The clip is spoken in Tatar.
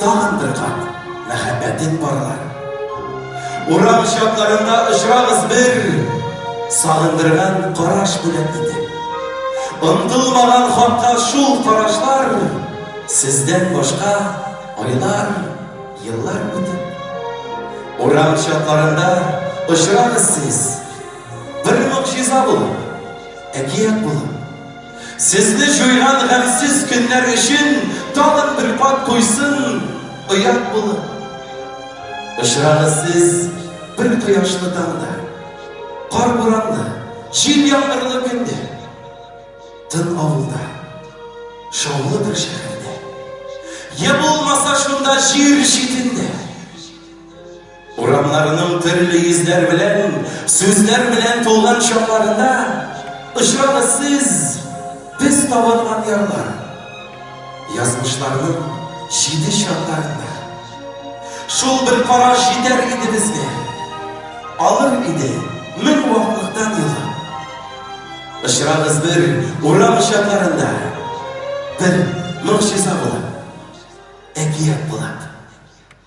Тагын бер кат мәхәббәтем парлар. Урам чакларында очрагыз бер, сагындырган караш белән итеп. Онтылмаган хакка шул карашлар, сездән башка айлар, еллар үтеп. Урам чакларында очрагыз сез, бер могҗиза булып, әкият булып. Сезне җуйган гамьсез көннәр өчен тагын бер кат туйсын оят булып. Очрагыз сез бер кояшлы таңда, кар-буранлы, җил-яңгырлы көндә, тын авылда, шаулы бер шәһәрдә, я булмаса шунда җир читендә. Урамнарының төрле йөзләр белән, сүзләр белән тулган чакларында очрагыз сез без табынган ярлар. Язмышларның җиде чакларында. Шул бер караш җитәр иде безгә. Алыр иде мең ваклыктан елга. Очрагыз бер урам чакларында. Бер моңчыза була. Әкият була.